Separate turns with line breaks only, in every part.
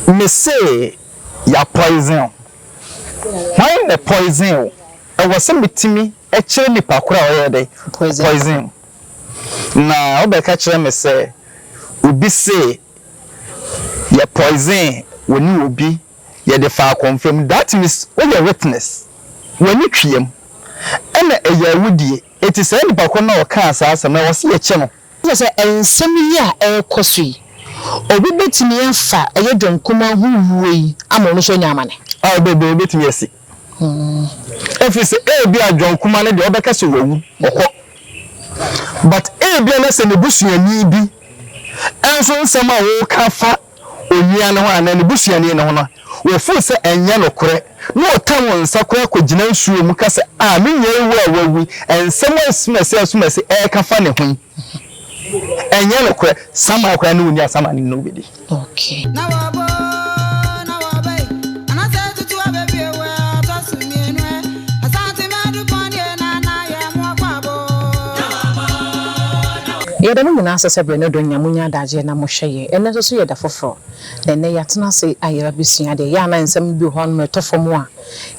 Me se ya poison o. Hwan na poison wo? Ɛwɔ sɛ metumi kyerɛ nipa koro a ɔyɛ dɛ? Poison wo. Na wo bɛ ka kyerɛ me sɛ obi se yɛ poison wo ne obi yɛ de faa kɔnfam that means wo yɛ witness w'ani tweam ɛna ɛyɛ awudie eti saa nipa koro no a ɔkaa saa asɛm no ɛwɔ sɛ yɛ kyɛ no. Kyerɛ sɛ, nsɛm yi a ɛrekɔ so yi, obi betumi afa ɔyɛ John Kumaa ho wuo yi ama ɔno nso anya amane? Oh, dabi, ebetumi asi. Efiri sɛ, ebia John Kumaa no deɛ, wɔbɛka sɛ wawu, ɔkɔ. But ebia na sɛ ne busuani bi nso nsɛm a wɔka fa Onua no ho anaa ne busuani no ho no, wɔfuu sɛ ɛnyɛ nokorɛ, na wɔkaa wɔn nsa koraa kɔgyinaa nsuo mu ka sɛ, A me nua yi wo a wawu yi, nsɛm a asumasie asumasie reka fa ne ho yi, ɛnyɛ nokorɛ, saman koraa ne ɔni asaman no ne no bɛdi.
Yɛda mo nyinaa ase sɛ berɛ no do nya monya adagyeɛ na mohwɛ yɛn. Ɛnnɛ nso so yɛ da foforɔ, na ɛnnɛ yɛatena ase ayera bɛsua adeɛ. Ɛyɛ a na nsɛm bi wɔ hɔ a nom ɛtɔ fam a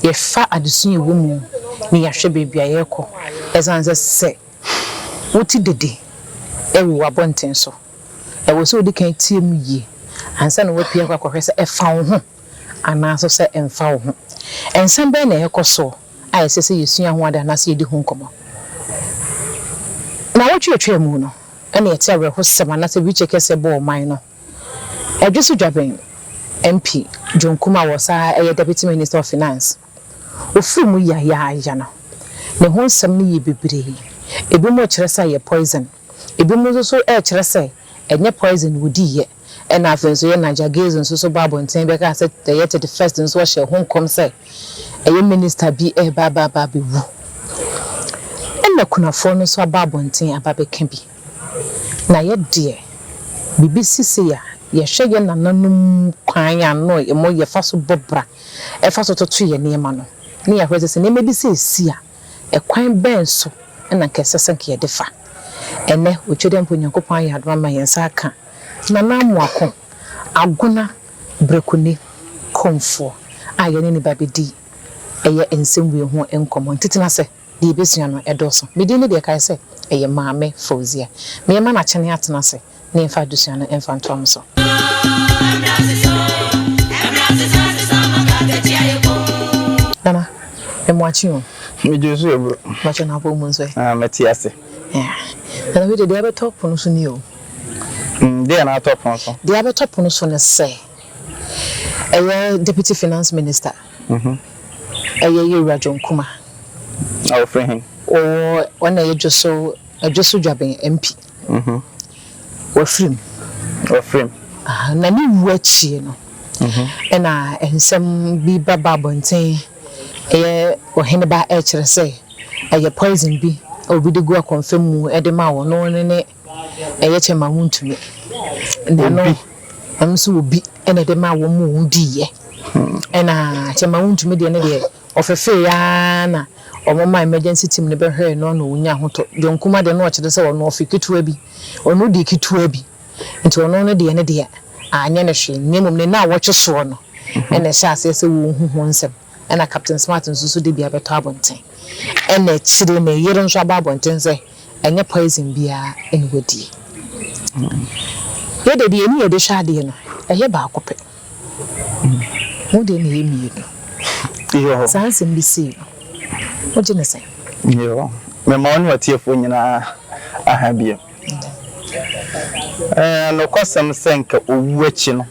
yɛfa adesua a ɛwɔ mu ne yɛahwɛ baabi a yɛrekɔ. Ɛsiane sɛ sɛ wote dede wɔ w'abɔnten so, ɛwɔ sɛ wodi kan tie mu yie ansa na woapue akɔ akɔhwɛ sɛ ɛfa wo ho anaa nso sɛ ɛmfa wo ho. Nsɛm bɛn na ɛrekɔ soɔ a ɛsɛ sɛ yɛsua ho ade anaasɛ yɛdi ho nkɔmmɔ? Nnawɔtwe a ɛtwaa mu no, ɛna ɛte awerɛhosɛm anaasɛ wheelchair kɛseɛ bɔ ɔman no ɛdweso dwa bɛn MP John Kumah wɔ saa ara ɛyɛ Deputy Minister of Finance ofiri mu yayaaya no ne ho nsɛm no yɛ bebree ebinom rekyerɛ sɛ ayɛ poison ebinom nso so rekyerɛ sɛ ɛnyɛ poison na ɔdiiɛ. Ɛnna afei nso yɛn Nigel Gills nso so bɔɔ abɔnten bɛkaa sɛ ɛyɛ thirty first nso ɔhyɛɛ ho nkɔm sɛ ɛyɛ minister bi reba aba aba abɛwu. Ɛnna kunafoɔ no nso aba abɔnten aba abɛka bi. Na yɛ deɛ, biribi si sei a, yɛhwɛ yɛn nananom kwan a na wɔyɛ fa so bɔ bra fa so toto yɛn nneɛma no, na yɛahwɛ sɛ sɛ nneɛma bi sɛ resi a, Ɛkwan bɛn so na anka ɛsɛ sɛ anka yɛde fa? Ɛnnɛ, Otwedeɛmpa Onyankopɔn ayɛ adom ama yɛn nsa aka Nana Amoako Agona Brekuni Komfoɔ a yɛne no bɛbɛdi ɛyɛ nsɛmwie ho nkɔmmɔ. Ntitena sɛ, deɛ yɛbɛsua no dɔɔso. Me din ne deɛ ɛkae sɛ ɛyɛ Maame Fauzia. Meyɛ ma Nakyene Atena ase. ne mfa adesua no mfa ntoa mo so. Nana, me mmoakye o. Megye so yɛ bro.
Mmoakye na apɔ mu nso ɛ.
Ah, mɛte ase. Nana bi de deɛ abɛtɔ pono so ni o. Mm, deɛ
na atɔ pono so. Deɛ abɛtɔ pono so ne
sɛ ɛyɛ deputy finance minister. Mhm. Ɛyɛ Yewura John Kuma. A
wɔfrɛ he? Ɔwɔ ɔna
ɛyɛ Dwoso Dwoso Dwaben MP. Wafiri mu. Wafiri mu. Na ne wu akyi no, ɛna nsɛm bi ba ba abɔnten, ɛyɛ ɔheneba rekyerɛ sɛ ɛyɛ poison bi a obi de gu akɔmfam mu de ma wɔn, na ɔno ne ɛyɛ kyɛ ma wontumi. Na no, ɛno nso obi na ɛde ma wɔn ma wɔdiiɛ. Ɛna kyɛ ma wontumi deɛ no deɛ. Ɔfɛfɛɛe ara na wɔmaa emergency team no bɛhwɛɛ no na onyaa ahotɔ. John Nkrumah deɛ na ɔkyerɛ sɛ ɔno ɔfe ketewa bi, ɔno deɛ ketewa bi nti ɔno no deɛ no deɛ anyɛ no hwee na mmom ne nnawɔtwe soɔ no na ɛhyɛɛ aseɛ sɛ wɔrehu ho nsɛm. Ɛna Captain Smart nso so dabi abɛtɔ abɔnten. Ɛna akyire ne yere nso aba abɔnten sɛ ɛnyɛ poison biara na wadie. Yɛdeɛ deɛ yɛne yɛde hwɛ adeɛ no ɛyɛ baako pɛ. Mo deɛ na ɛyɛ mmienu. Yoo.
Saa nsɛm bi sei
no, wogye no sɛn? Yoo.
Mema wo ne ɔtiefoɔ nyinaa aha bio. Ɛɛ, nokwasɛm sɛ anka owu akyi no,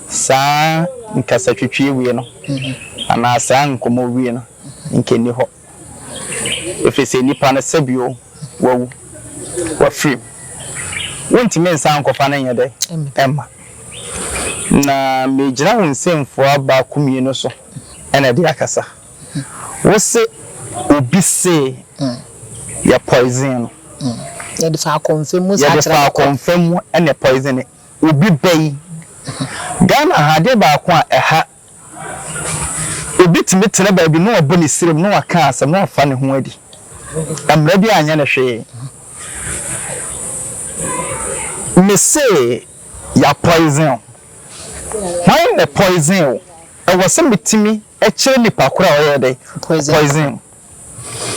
saa nkasatwitwie wei no anaa saa nkɔmmɔ wei no anka ɛnni hɔ. Efisɛ nnipa no sɛ bio wɔawu, wɔafirim. Wontumi nsan nkɔfa no nyɛ dɛn mma. Na meregyina wo nsɛmfua baako mmienu so na de akasa. Wose obi se yɛ poison no. Yɛde
fa akɔmfam mu saa kyerɛ no kɔ. Yɛde fa
akɔmfam mu na poison no. Obi ba yi. Ghana ha adeɛ baako a ɛha Obi tumi tena baabi na wabɔ ne srem na waka asɛm na wafa ne ho adi. Mmara biara nyɛ no hwee. Mese ya poison wo. Hwan na poison wo? Ɛwɔ sɛ metumi kyerɛ nipa koro a ɔyɛ dɛ? Poison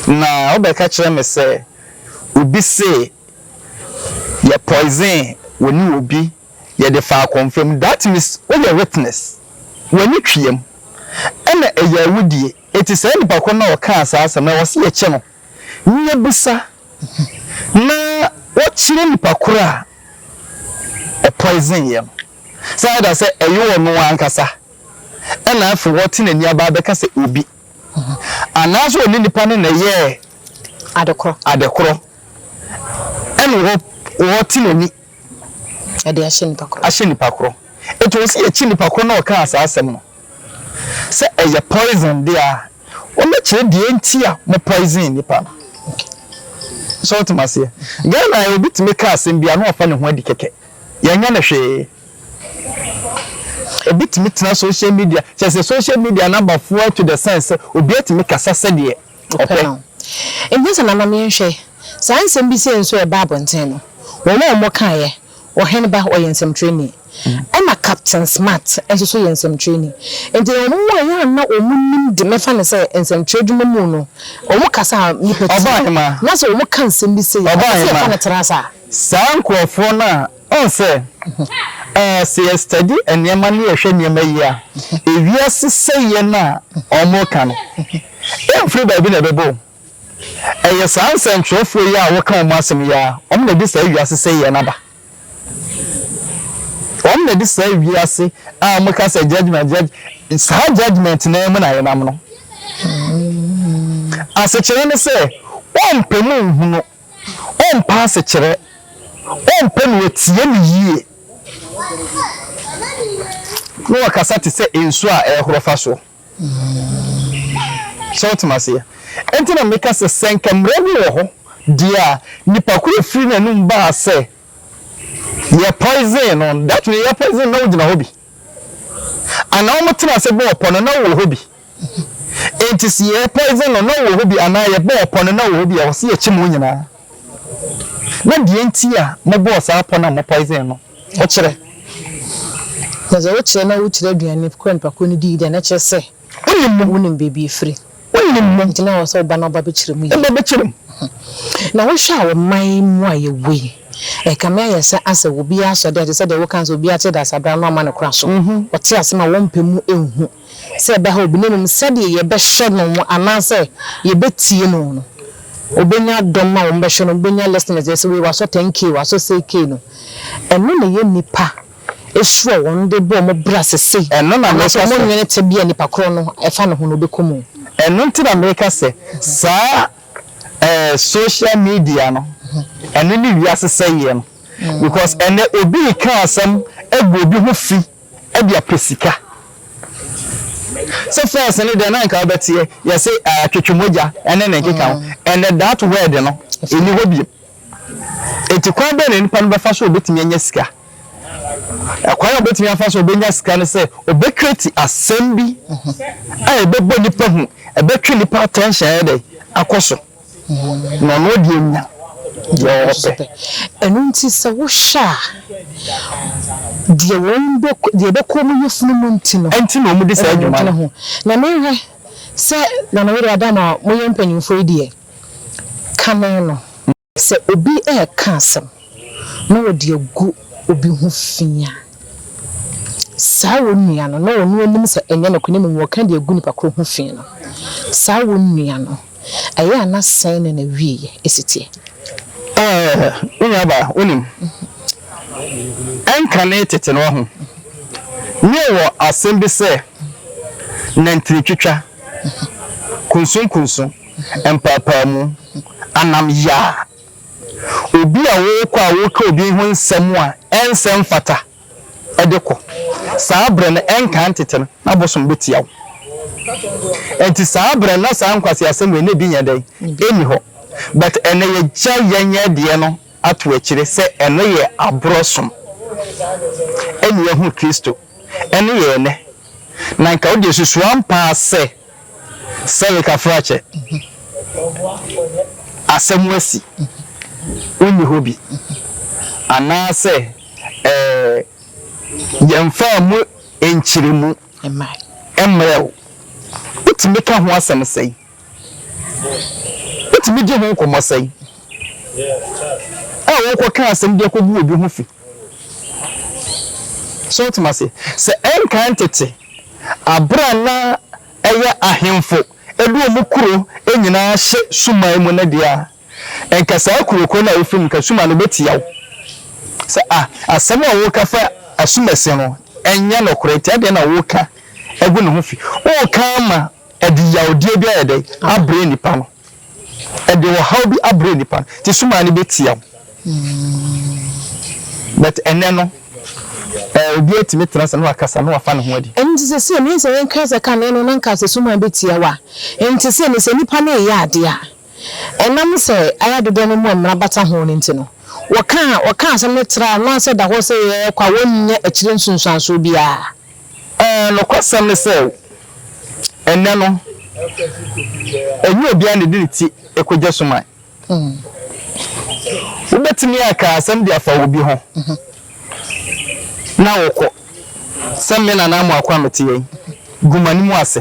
wo. Na wobɛka kyerɛ me sɛ obi se yɛ poison wɔ ne obi. Yɛde faa kɔmfam, that is, woyɛ witness, w'ani tweam, ɛna ɛyɛ awudie, enti saa nipa korɔ no a ɔkaa saa asɛm no ɛwɔ sɛ yɛkyɛ no, ne yɛbisa na wɔkyerɛ nipa korɔ a ɔpoisoneeɛ no, sɛ either sɛ ɛyɛ ɔno ankasa ɛna afei wɔte n'ani aba abɛka sɛ obi, anaa sɛ ɔne nipa no na ɛyɛɛ adekorɔ, ɛna wɔte n'ani. Ɛde ahyɛ nipa koro. Ahyɛ nipa koro. Nti wɔsi yɛkyi nipa koro na ɔkaa saa asɛm no. Sɛ ɛyɛ poison deɛ a, wɔbɛkyerɛ deɛ nti a mo poison nipa no. So wote maseɛ? Ghana yɛ obi tumi ka asɛm bi a na wafa ne ho adi kɛkɛ. Yɛnyɛ no hwee. Obi tumi tena social media, kyerɛ sɛ social media no aba fua to the sense sɛ obi atumi kasa sɛdeɛ. Ɔpɛ no. Ɛnyɛ sɛ
nananom yɛnhwɛ saa nsɛm bi sei nso a ɛbaa abɔnten no, wɔn a wɔkaeɛ, Ɔhene ba ɔyɛ nsɛmtwerɛni, ɛna Captain Smart nso so yɛ nsɛmtwerɛni. Nti wɔn a ɛyɛ a na wɔnim de, mɛfa no sɛ nsɛmtwerɛ adwuma mu no, wɔn kasa a nnipa tie, na sɛ wɔka nsɛm bi sei a, ɛsɛ sɛ yɛfa no tra saa. Saa nkorɔfoɔ
no a, wohu sɛ, ɛɛ, sɛ yɛ study nneɛma ne yɛhwɛ nneɛma yie a, ewiase sɛeɛ no a wɔreka no, Emfiri baabi na ɛbɛba o. Ɛyɛ saa nsɛntwerɛfoɔ yi a wɔka wɔn asɛm yi ara, wɔn na ɛde saa wiase sɛeɛ no aba. Wɔn na ɛde saa wiase a wɔka sɛ judgement judge, saa judgement no ara mu na yɛnam no. Asekyerɛ ne sɛ, wɔmpɛ mu nhunu, wɔmpɛ asekyerɛ, wɔmpɛ na wɔtie no yie, na wɔkasa te sɛ nsuo a ɛrehoro fa soɔ. So wote me aseɛ? Enti na meka sɛ, sɛ anka mmara bi wɔ hɔ deɛ a, nipa koro a firi n'anum baa sɛ yɛ poison no, that means yɛ poison no na wogyina hɔ bi. Anaa wɔn tena ase bɔɔ pɔ no na wowɔ hɔ bi. Enti sɛ yɛ poison no na wowɔ hɔ bi anaa yɛ bɔɔ pɔ no na wowɔ hɔ bi a, ɛwɔ sɛ yɛkyim wɔn nyinaa. Na deɛ nti a mo bɔɔ saa pɔ no a mo poison no. Ɔkyerɛ. Na dza ɔkyerɛ na wokyerɛ aduane kor anapa kor no dii dɛ, na kyerɛ sɛ wonim beebi efiri. Ntsi na ɔwɔ sɛ ɔba na ɔba bɛkyerɛ mu yie. Na wohwɛ a wɔ man mu a yɛwɔ yi, ɛrekame ayɛ sɛ asɛ obiara sɔ dɛ, te sɛ deɛ wokaa no sɛ obiara te Dasabra no ama no kora so. Ɔte ase ma wɔmpɛ mu nhu. Sɛ yɛbɛha obi, na mmom sɛdeɛ yɛbɛhwɛ no anaasɛ yɛbɛtie no no, ɔbɛnya dɔm a wɔbɛhwɛ no, ɔbɛnya listeners, yɛ sɛ wei wasɔ 10K, wasɔ sei K no, ɛno na ɛyɛ nnipa su a wɔn de bɔ wɔn bra sese, anaasɛ wɔn nnwene tebea a nipa korɔ no ɛfa ne ho no ɔbɛkɔ mu. Ɛno nti na meka sɛ saa ɛɛ social media no, ɛno ne wiase sɛeɛ no, because ɛnnɛ obi reka asɛm agu obi ho fi, de apɛ sika sɛ first no deɛ na nka wobɛteɛ yɛse uh, twetwe mogya ɛne ne nkeka ho ɛnɛ that word no ɛni hɔ biom ɛti kwan bɛɛ na nipa no bɛfa so ɔbɛtumi anya sika ɛkwan a ɔbɛtumi afa so ɔbɛnya sika no sɛ ɔbɛkreti asɛm bi a ɛbɛbɔ nipa hu ɛbɛtwe nipa attention ɛdɛ akɔ so Na ɔno deɛ ɔnya deɛ ɔpɛ. Ɛno nti sɛ wohwɛ a, deɛ wɔn bɛ, deɛ ɛbɛkɔ wɔn yafunu mu nti no, ɛnti na wɔn di saa dwuma no. Na mehwɛ sɛ Nana Were Adama a moyɛ mpanyinfoɔ yi deɛ, kane no. Sɛ obi ɛɛka asɛm na ɔde agu obi ho fi a, saa wɔn nua no, na ɔno anim sɛ ɛnyɛ nokorɛ na mmom ɔɔka de agu nipa korɔ ho fi no, saa wɔn nua no. Ɛyɛ a na sɛn na n'awieeɛ si teɛ? Ɛɛ, me nuabaa, wonim, ɛnkane tete no ho no wɔ asɛm bi sɛ, Nantini twitwa, kunsunkunsun, mpaapaamu, anam yaa, obi a wokɔ a woka obi ho nsɛm a ɛnsɛ mfata. de kɔ. Saa bere no, ɛnkaa ntetɛ no, na bosom betia wo. Enti saa bere no, na saa nkwaseasɛm wei ne bi nyɛ dɛn? Enni hɔ. But ɛnnɛ, yɛagya yɛn yɛ deɛ no ato akyire sɛ ɛno yɛ aborɔ som. Ɛnna yɛahu Kristo. Ɛno yɛ ɛnnɛ. Na nka wo deɛ susu ampa ara sɛ sɛ rekafrakyɛ asɛm asi, wonni hɔ bi, anaasɛ. Ɛɛ, yɛmfaa mu nkyeremu mmrɛɛ wo. Wotumi ka ho asɛm sɛn? Wotumi gye ho nkɔmmɔ sɛn? A wokɔka asɛm bi akɔgu obi ho fi. So wote ase? Sɛ ɛnkan tete, bere a na ɛyɛ ahemfo de wɔn kuro nyinaa hyɛ suman mu no deɛ a, Nka saa kurokuro no a wofrɛ no Kasuma no bɛtia wo sɛ ah, asɛm a woka fa asumasi no ɛnyɛ nokorɛ nti adɛn na woka agu ne ho fi? Woka ama ɛde yawdeɛ bi ayɛ dɛn? Abrɛ nnipa no. Ɛde ɔhaw bi abrɛ nnipa no nti Suma no bɛtia wo. But ɛnɛ no, eh, obi atumi tena sɛ na wakasa na wafa ne ho adi. Ɛno nti sɛ sɛ ɛno sɛ
yɛnka sɛ kane no na nka sɛ Suma bɛtia wo a, ɛnte sɛ ne sɛ nnipa no reyɛ adeɛ a. Ɛnam sɛ ayɛ dodoɔ no mu a mmara bata ho no nti no, wɔka a wɔka asɛm no tra no ase da hɔ sɛ ɛyɛ kwa, wɔnnya akyire nsunsuansoɔ biara. Ɛɛ,
nokwasɛm ne sɛ, ɛnnɛ no, ɛnyɛ obiara na ɔde ne ti kɔgya suman. Wobɛtumi aka asɛm de afa obi ho na wokɔ, sɛ me nana Amoako a mete yɛn, gu m'anim ase.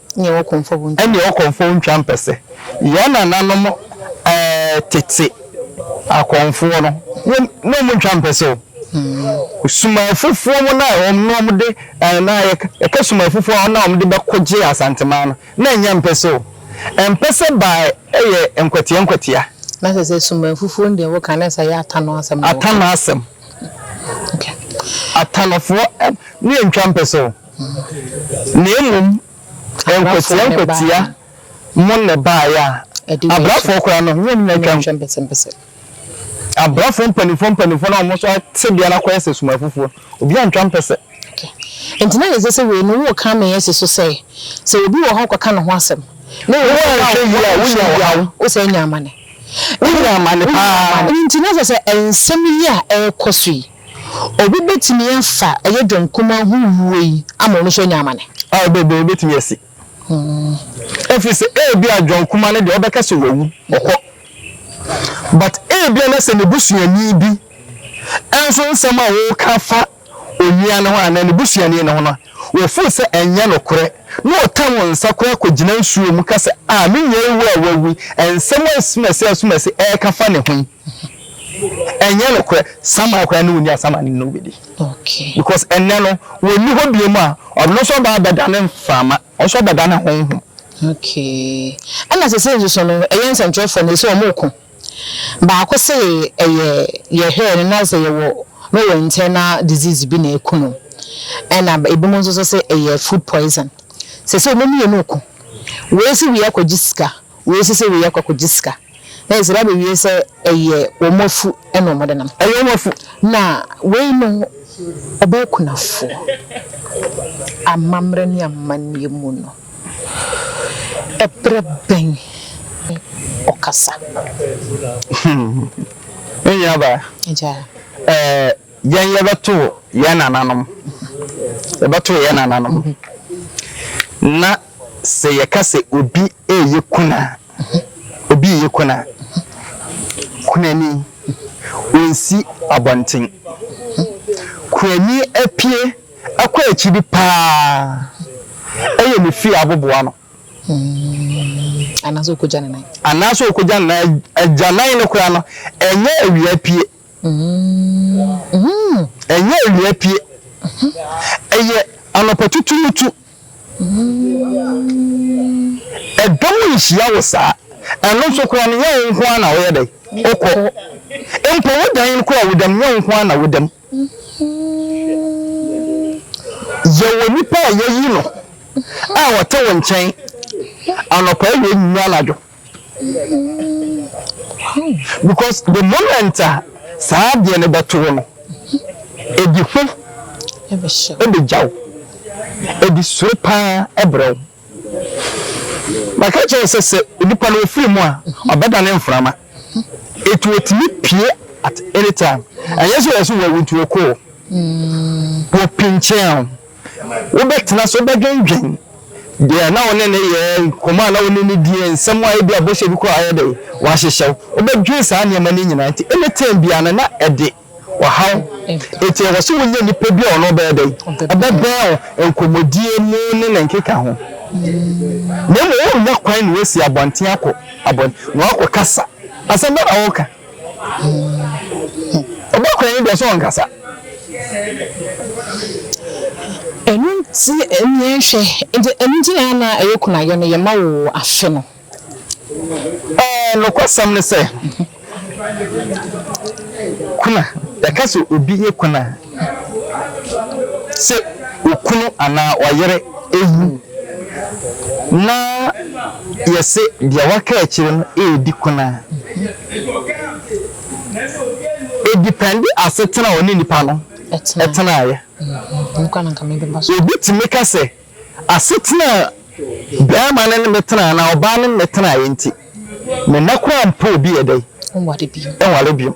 Ɛnneɛ ɔkɔmfoɔ wo
ntwa. Ɛnneɛ ɔkɔmfoɔ wo ntwa
mpɛsɛ. Yɛn nananom ɛɛ tete akɔmfoɔ no, wɔn na wɔn ntwa mpɛsɛ o. Hmm. Suma afufuo mu na wɔn na wɔn de ɛɛ na yɛ yɛka suma afufuo a wɔn na wɔn de bɛko gye asanteman no na ɛnyɛ mpɛsɛ o. Mpɛsɛ baa ɛyɛ nkwatia nkwatia. Na sɛ sɛ
suma afufuo no deɛ wɔka na sɛ yɛ atano asɛm. Atano asɛm. Okay.
Atanofoɔ ɛɛ ne yɛn ntwa mpɛsɛ o. Na mmom nkwatia nkwatia mo na ɛbaeɛ a abrɛfoɔ koraa no wɔn nyinaa twaa mu. Abrɛfoɔ mpanimfoɔ mpanimfoɔ no a wɔn nso tebea no akɔyɛ sɛ sum afufuo no, obiara antwa mpɛsɛ.
Enti na ɛnsɛ sɛ wei no woka meyɛsi so sɛ, sɛ obi wɔ hɔ kɔka ne ho asɛm na ɛyɛ sɛ woanhwɛ yie a wonya ɔhaw, wosɛ anya amane. Wonya amane paa. Ɛno nti na sɛ sɛ nsɛm yi a ɛrekɔ so yi Obi betumi afa ɛyɛ dwom kumaa ho wuo yi ama ɔno nso anya amane? Oh, bebree betumi
asi. Efiri sɛ ebia dwom kumaa no deɛ ɔbɛka sɛ wawu, ɔkɔ. But ebia na sɛ ne busuani bi nso nsɛm a ɔreka afa onua no ho anaa ne busuani no ho no, ɔfeel sɛ ɛnyɛ nokorɛ na ɔtɛ wɔn nsa koraa kɔgyina nsuo mu ka sɛ, ah, me nua yi wɔ a wawu yi, nsɛm a asumasɛe asumasɛe ɛreka fa ne ho yi. Ɛnyɛ nokorɛ Samuel koraa ne ɔni asɛm ane ne ɔbɛdi because
ɛnnɛ no
ɔnni hɔ biom a ɔno nso ɔbaa bɛdane mframa ɔno nso ɔbɛdane honhom. Okay
ɛna sese nso so no ɛyɛ nsɛnkyerɛfoɔ no ɛsɛ ɔmo ko baako se ɛyɛ yɛhwɛɛ no na sɛ yɛwɔ na ɔwɔ internal disease bi na ɛku no ɛna ebinom nso so se ɛyɛ food poison sese ɔmo mmienu ko wei se wei akɔgye sika Wei nso sɛ wei akɔ akɔgye sika na ɛsra bɛwie sɛ ɛyɛ wɔn afu na wɔn de nam. Ɛyɛ wɔn afu na wei no ɔbɛyɛ kunafoɔ. Amammerɛ ne amanneɛ mu no, ɛberɛ bɛn ne ɔkasa?
Hmm. Menuabaa. Agyaa. Ɛɛ. Yɛn yɛbɛtoo yɛn nananom, yɛbɛtoo yɛn nananom, na sɛ yɛka sɛ obi reyɛ kuna, obi reyɛ kuna, kunani, ɔnsi abɔnten. Kunani apue akɔ akyiri paa, ɛyɛ ne fie aboboa no. Anaasɛ
ɔkɔgya ne nan. Anaasɛ ɔkɔgya ne nan, agyanan no koraa no, ɛnyɛ awia pue. Ɛnyɛ awia pue. Ɛyɛ anɔpa tutuutu. Ɛdɔm nhyia wo saa. Ɛno nso koraa no, nyɛ wo nko ara na woyɛ dɛn? Wokɔ. Mpo wo dan no koraa, woda mu, nyɛ wo nko ara na woda mu. Yɛwɔ nnipa a yɛayi no a wɔte wo nkyɛn anɔpa, awia, anwummerɛ, anadwo. Because the moment a saa adeɛ no bɛto wo no, ɛdi ho bɛgya wo,
ɛdi suro pa ara brɛ wo. Maka kyerɛ wo sɛ, sɛ nipa no ɔfiri mu a, ɔbɛdane mframa. Enti ɔtumi pue at any time. Ɛnyɛ sɛ ɔyɛ sɛ wawu nti ɔkɔɔ, wɔpinkyɛn wo. Wobɛtena ase, wobɛdwendwen deɛ na wo ne no yɛɛ, nkɔmmɔ a na wo ne no diiɛ, nsɛm a ebia bɔhyɛ bi koraa a ayɛ dɛn, wɔahyehyɛ wo. Wobɛdwen saa nneɛma no nyinaa nti, anytime biara no na ɛde ɔhaw. Enti ɛwɔ sɛ wonya nipa bi a ɔno ɔbɛyɛ dɛn? Ɔbɛbɛn wo, nkɔmmɔdie mu ne ne nkeka ho. Na mmom worennya kwan ne wasi abɔnten akɔ abɔn, na woakɔkasa. Asɛm bɛn na woreka? Ɔba kɔnyi deɛ ɔsɛ ɔnkasa.
Ɛno nti nea ɛnhwɛ nti ɛno nti na ana ɛyɛ kunayɔ no yɛ ma wo afe no. Ɛɛ
nokwasɛm ne sɛ kuna yɛka sɛ obi yɛ kuna. Sɛ okunu anaa ɔyere wu na yɛse deɛ waka akyire no redi kun a, ɛdipɛnde asetena a ɔne nipa no tenaeɛ.
Obi tumi ka sɛ
Asetena a barima ne me tena anaa ɔbaa ne me tenaeɛ nti, me mma koraa mpɛ obi yɛ dɛn? Nware biom.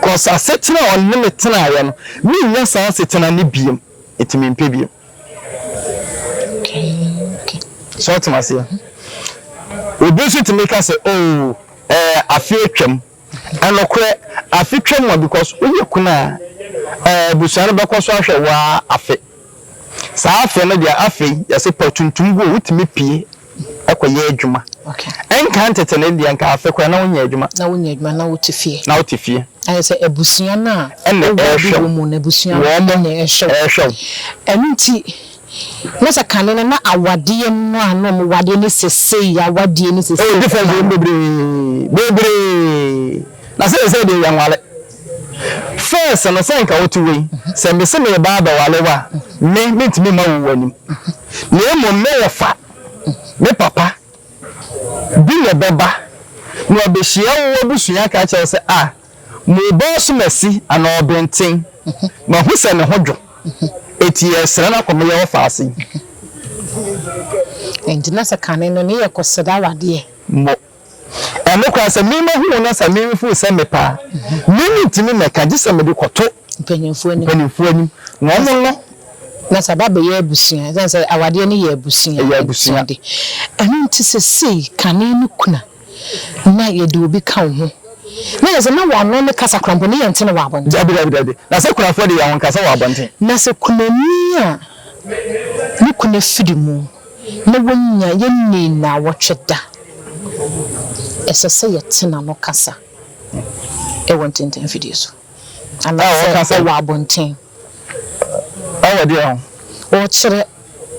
Cause asetena a ɔne me tenaeɛ no, mennya saa asetena no biom, nti mempɛ biom. So wote me aseɛ? Obi nso tumi ka sɛ, oh, ɛɛ afe atwam. Nokorɛ afe twam a because wo yɛ kunu a ɛɛ abusua no bɛkɔ so ahwɛ wo ara afe saa afe no deɛ afei yɛse pɛ tuntum guo wo tumi pie kɔ yɛ adwuma ɛnka
ntete no
deɛ nka afe koraa na wo nyɛ adwuma na wo nyɛ adwuma na wo te
fie na wo te fie ayɛ sɛ abusua no a ɛna ɛhwɛ wo
wɔn
ɛna ɛhwɛ wo ɛno nti. Na sɛ kane no na awadeɛ no a na wɔn wadeɛ ne sesei awadeɛ ne sesei. Ɛwɔ difference wɔ mu bebree
bebree na sesei deɛ yɛ nware first no sɛ nka wo te wei sɛ me se me ba abɛware wo a me me ntumi ma wo w'anim na mmom me wɔ fa me papa bi na ɛbɛba na ɔbɛhyia wo abusua ka kyerɛ wo sɛ ah Mobɔɔ so masi ano benten, mahu sɛ ne ho dwo, enti yɛresrɛ no akɔ mo yaw afaase yi.
Enti na sɛ kane no, ne yɛ kɔ srɛ awadeɛ. Mo.
Ɛno koraa, sɛ me mahu wo na sɛ me mfoo sɛ mepɛ a, me mentumi mmɛka, gye sɛ mede kɔto. Mpanimfoɔ anim.
Mpanimfoɔ anim, na wɔn
no. Na sɛ aba
abɛyɛ abusua, ɛsiane sɛ awadeɛ no yɛ abusua. Ɛyɛ abusua. Ɛno nti sesei kane no kuna. Na yɛde obi ka wo ho. Na yɛse, na w'ano ne kasa korampɔ, ne yɛnte no wɔ abɔnten. Dabi, dabi, dabi. Na sɛ
kunafoɔ de, yɛnkasa wɔ abɔnten. Na sɛ kunani
a ne kuna firi mu, na wanya, yɛnnii nnawɔtwe da, ɛsɛ sɛ yɛte n'ano kasa wɔ ntentanfidie so, anaasɛ wɔ abɔnten.
Ɔwɔ deɛ ho? Ɔrekyerɛ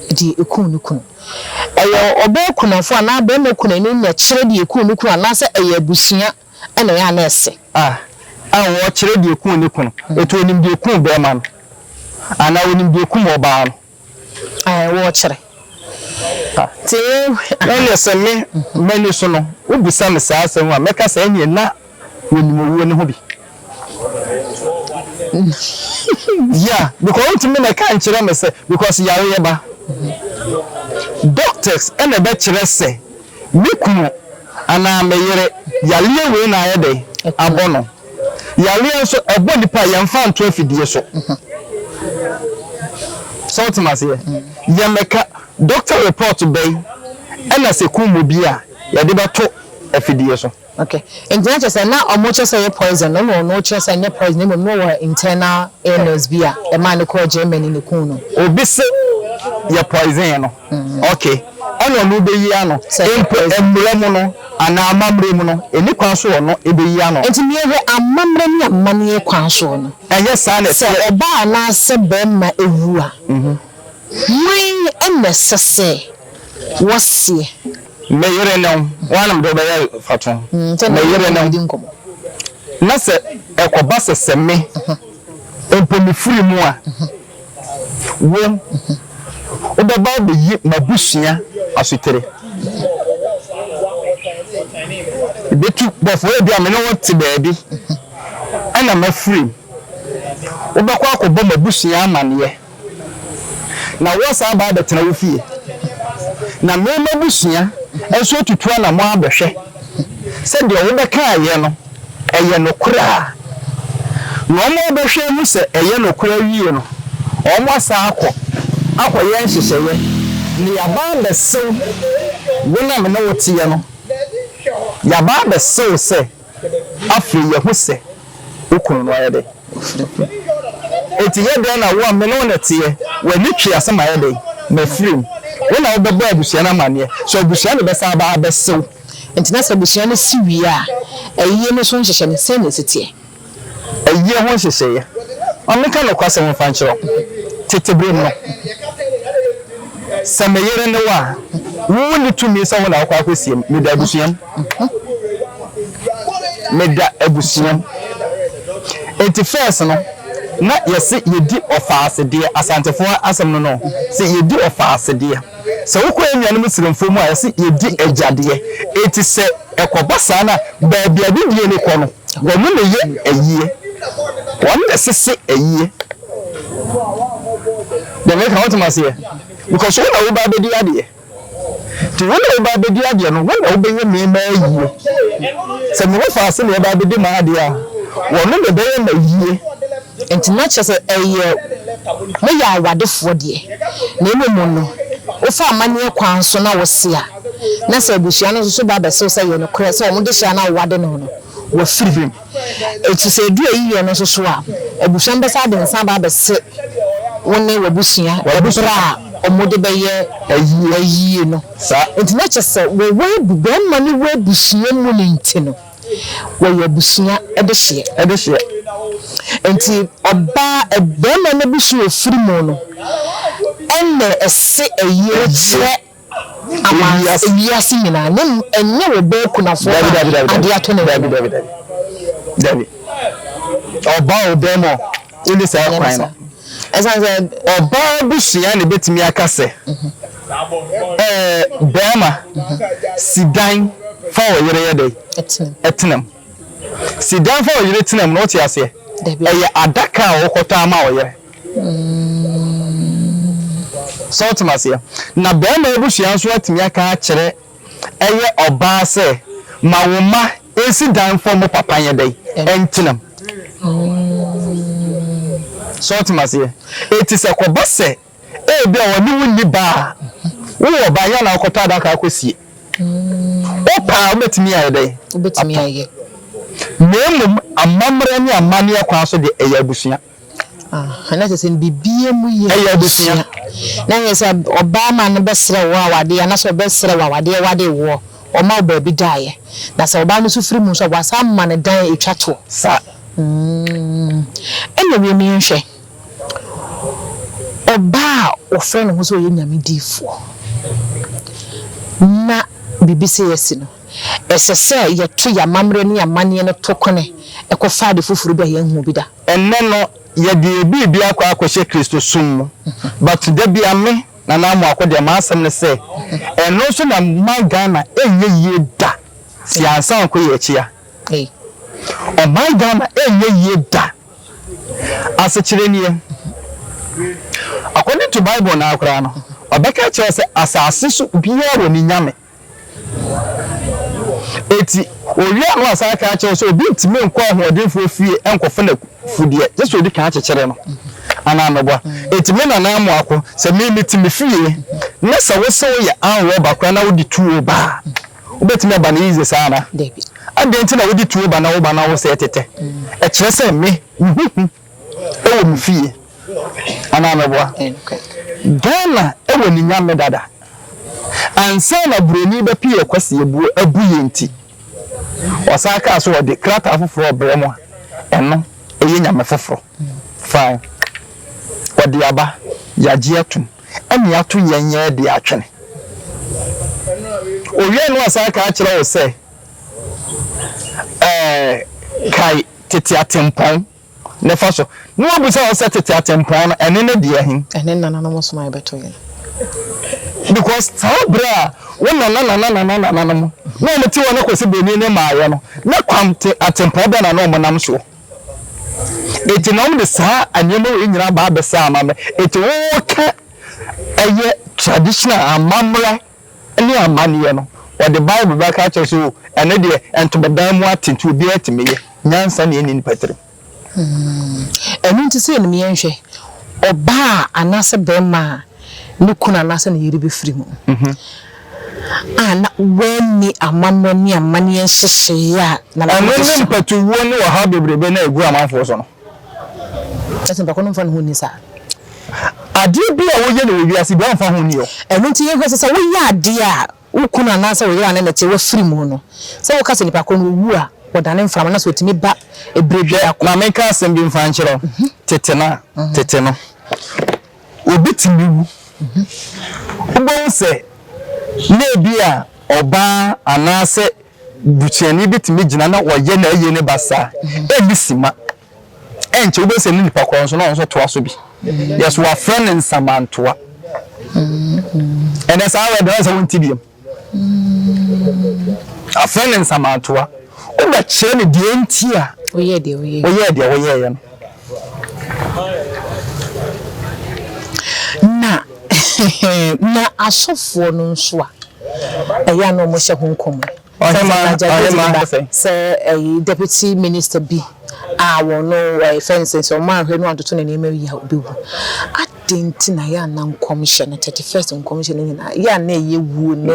deɛ ɛkum ne kunu. Ɛyɛ ɔbaa kunafo anaa barima kunani na ɛkyerɛ deɛ ɛkum ne kunu anaasɛ ɛyɛ abusua na ɛyɛ a na ɛsɛ? A. A
Ɔrekyerɛ deɛ ɛkum ne kunu. Ɛti ɔnim deɛ ɛkum barima no anaa ɔnim deɛ ɛkum ɔbaa no. Ɛɛ, worekyere.
Te nka.
Ɛyɛ sɛ me, m'ani so no, wobisa me saa asɛm a, mɛka sɛ ɛnneɛ na wɔnim owuo no ho bi. Yeah, because wontumi nɛka nkyerɛ me sɛ, because yareɛ ba. Doctors na ɛbɛkyerɛ sɛ me kunu anaa me yere yareɛ wei na ayɛ dɛn? Abɔ no. Yareɛ nso ɛbɔ nipa a yɛnfa nto afidie so sɛ wotem aseɛ yɛmɛka doctor report bɛn ɛna sɛ kum obi a yɛde bɛto afidie so. Okay nti na kyerɛ
sɛ na ɔmo kyerɛ sɛ ɛyɛ poison no na ɔno kyerɛ sɛ ɛnyɛ poison mmom na ɔwɔ internal illness bi a ɛmaa no kɔɔ Germany na ekum no. Obi se
yɛ poison no Ok, ɛna ɔno bɛyi ano? Mpo mmara mu no anaa amammerɛ mu no, ɛni kwan so ɔno bɛyi ano? Enti nea ɛwɔ amammerɛ
ne amanneɛ kwan so no, Ɛnyɛ saa na ɛteɛ. sɛ
ɔbaa anaasɛ
barima wu a, hwan na ɛsɛ sɛ wɔseɛ? Me
yere ne wo. Woa na mede wo bɛyɛ mfatoho. Me yere ne wo. Na sɛ ɛkɔba sɛ sɛ me mpo mefiri mu a. Wom, wobɛba abeyi m'abusua asotere. Yebetu bɔfoɔ a ebia me ne wo te baabi na m'afurum. Wobɛkɔ akɔbɔ m'abusua amaneɛ, na woasan aba abɛtena wo fie, na me m'abusua nso atutu anammɔn abɛhwɛ. Sɛ deɛ wobɛkaeɛ no yɛ nokorɛ a, na wɔbɛhwɛ ahu sɛ ɛyɛ nokorɛ awie no, wɔasan akɔ akɔyɛ nhyehyɛeɛ na yɛaba abɛsew wo na me ne wo teɛ no, yɛaba abɛsew sɛ afei yɛahu sɛ. Wokum no ayɛ dɛn? Enti yɛ dɛn na wo a me ne wo na ɛteɛ? W'ani twe ase mayɛ dɛn? Mafirim. Wo na wobɛbɔ abusua no amanneɛ. So abusua no bɛsan aba abɛse wo? Enti na sɛ abusua
no si wie a, ayie no so nhyehyɛe no, sɛn na ɛsi teɛ? Ayie
ho nhyehyɛeɛ. Ma menka nokwasɛm mfa nkyerɛ wo. Tete berɛ mu no, sɛ me yere ne wo a, wunni tumi sɛ wo na wokɔ akɔsie me. Meda abusua mu. Meda abusua nti first no na yɛse yɛdi ɔfaase deɛ asantefoɔ asɛm no no se yɛdi ɔfaase deɛ sɛ wokɔ yɛn nuanom sremfoɔ mu a yɛse yɛdi agya deɛ nti sɛ ɛkɔba saa no a baabi a bidie no kɔ no wɔn na ɛyɛ ayie wɔn na ɛsese ayie deɛ meka wotem aseɛ because wo na woba abɛdi adeɛ. Enti wo na woreba abɛdi adeɛ no, wo na wobɛyɛ nneɛma ayie. Sɛ me ho faa sɛdeɛ ɛreba abɛdi m'adeɛ a, wɔnom na ɛbɛyɛ no ayie. Enti na kyerɛ
sɛ ɛyɛ moyɛ awadefoɔ deɛ, na mmom no, wofa amanneɛ kwan so na wose a, na sɛ abusua no nso so ba bɛse wo sɛ yɛ nokorɛ sɛ wɔn dehyeɛ a na wowade no no, wɔafiri mu. Enti sɛ edu eyi yɛ no nso so a, abusua no bɛsan de nsa aba abɛse wo ne w'abusua bere a wɔde bɛyɛ ayie no. Enti na kyerɛ sɛ wɔ barima ne wo abusua mu no nti no, wɔyɛ abusua dehyeɛ. Enti ɔbaa, barima no abusua a ɔfiri mu no na ɛse ayie kyerɛ Amansa wiase nyinaa na mmom ɛnyɛ wo ba okunafoɔ no a adeɛ ato ne yam. Dabi dabi dabi dabi ɔbaa o bɛɛma o wonni saa kwan no ɛsan sɛ ɔbaa abusua na ebetumi aka sɛ ɛɛ bɛɛma si dan fa wɔ yere yɛ dɛ ɛtenam si dan fa wɔ yere tenam na ɔte aseɛ ɛyɛ adaka a ɔkɔtɔ ama wɔ yere. So wote me aseɛ? Na barima abusua nso atumi aka akyerɛ ɛyɛ ɔbaa sɛ, Ma wo mma nsi dan mfa wɔn papa nyɛ dɛn? Ntena mu. So wote me aseɛ? Enti sɛ ɛkɔba sɛ ebia wɔne wo nni ba a, wowɔ ba a, ɛnyɛ a na wokɔtɔ adaka akɔsie. Wopɛ a, wobɛtumi ayɛ dɛn? Wobɛtumi ayɛ. Na
mmom amammerɛ ne amanneɛ kwan so deɛ, ɛyɛ abusua.
Ɛyɛ abusua
na hwɛ sɛ
ɔbarima no bɛsrɛ wo awadeɛ anaasɛ ɔbɛsrɛ wo awadeɛ wade woɔ ɔma wo baabi daeɛ na sɛ ɔbaa no nso firi mu nso a wasan ama no dan ɛtwa toɔ sa ɛna wiem no yɛnhwɛ ɔbaa a ɔfrɛ ne ho sɛ ɔyɛ nyame diifoɔ na biribi sɛ yɛasi no ɛsɛ sɛ yɛto yɛ amammerɛ ne yɛ amanneɛ no to kwane ɛkɔfa ade foforɔ bi a yɛnhu bi da. Ɛnnɛ no
yɛde yɛn biribi akɔ akɔhyɛ Kristosom mu but da bi a me, Nana Amoako deɛ m'asɛm ne sɛ ɛno nso na ɛma Ghana ɛnyɛ yie da si ansa nko yɛ akyia. Ɔman Ghana ɛnyɛ yie da. Asekyerɛ nie, according to Bible no ara koraa no, ɔbɛka akyerɛ wo sɛ asase so biara wɔ ne nyame. Enti, owia no asan aka akyerɛ wo sɛ obi ntumi nkɔ ahoɔdenfoɔ fie nkɔfa n'afudeɛ, gye sɛ ɔdi kan kyekyere no, anaa meboa? Enti me nana Amoako, sɛ me mete me fie na sɛ wo se woyɛ ann rɔba koraa na wode tuo ba a, wobɛtumi aba no easy saa anaa? Adɛn nti
na wode
tuo ba na woba na wosɛe tetɛ? Ɛkyerɛ sɛ me, wo ho hu. wɔ me fie anaa meboa Ghana wɔ ne nyame dada ansa na broni bɛpeyɛ Kwasi abuo abu yɛn ti ɔsan kaa sɛ ɔde krataa foforɔ ɔbrɛ mo a ɛno ɛyɛ nyame foforɔ fine ɔde aba yagye atum ɛne ato yɛn yɛn de atwene owia no ɔsan kaa kyerɛ wo sɛ Ɛɛ, kae tete atempɔn no fa so. Na wobisa wo sɛ tete atempɔn no, ɛne ne deɛ he? Ɛne nananom som a
yɛbɛto yɛn.
Because saa berɛ a wo nanananananananom na wɔn te hɔ na Kwasi Bonii ne mmaeɛ no, na kwan te atempɔn bɛn na na wɔn nam soɔ? Enti na wɔn de saa nneɛma wei nyinaa ba abɛsɛ amammerɛ. Enti woka ɛyɛ traditional amammerɛ. ne amanneɛ no, wɔde Bible bɛka akyerɛ wo sɛ, O, ɛno deɛ, ntomadan mu ate nti obiara tumi yɛ. Nyansa na ɛnni nnipa tirim.
Ɛno nti, sei na yɛnhwɛ, ɔbaa anaasɛ barima a ne kunu anaasɛ ne yere bɛfiri mu a na wanni amammerɛ ne amanneɛ nhyehyɛeɛ a na Ɛno ne mpatuwuo
ne ɔhaw bebrebe no a ɛgu amanfoɔ so no.
Kyerɛ sɛ mpako no mfa ne ho nni saa. Adeɛ
bi a woyɛ no wɔ wiase bi a ɔmfa ho nni hɔ. Ɛno nti yɛhu sɛ sɛ
woyɛ adeɛ a wo kunu anaasɛ wo yere ane no te wafiri mu no, sɛ woka sɛ nipa korɔ no ɔwu a, wɔdane mframa no sɛ ɔtumi ba ɛberɛ biara kɔ. Hwɛ, ma menka asɛm bi mfa
nkyerɛ wo, tete no, tete no. obetumi wu. Wobɛhu sɛ na ebia ɔbaa anaasɛ busuani bi tumi gyina na ɔyɛ na ayi ne ba saa. Ɛnni sima. Ɛnkyɛ wobɛhu sɛ ne nipa korɔ nso na ɔno nso toa so bi. Yɛs wɔafrɛ no nsamantoa. Ɛnɛ saa wɛde no sɛ wonte biam. Afei ne nsamantoa, wobɛkyerɛ no deɛ enti a
woyɛɛ deɛ woyɛeɛ no. Na, na asɔfoɔ no nso a ɛyɛ a na wɔhyɛ ho nkɔm yi, sɛ ɛyi deputy minister bi a wɔn no ɛfɛn sɛ sɛ wɔn anhwɛ no wɔn atoto ne nneɛma wie a ɔbɛwu. Dɛn nti na yɛ a na nkɔmhyɛ no, Thirty First nkɔmhyɛ no nyinaa, yɛ a na ɛyɛ wuo ne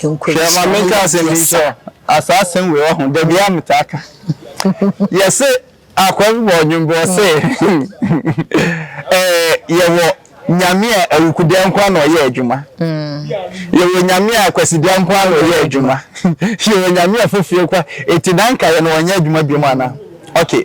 nkwanhyia no yɛ adeɛ sa? Hwɛ, ma menka asɛm
bi nkyerɛ wo. Asaa asɛm wei, woahu, da biara metaa ka. Yɛse, akoa bi bɔɔ nnwom bi, ɔse, eh, yɛwɔ Nyame a awukudeɛ nko ara na ɔyɛ adwuma. Yɛwɔ Nyame a kwasideɛ nko ara na ɔyɛ adwuma. Yɛwɔ Nyame a fofie nko ara. Enti na anka yɛne ɔnyɛ adwuma biom anaa? Okay.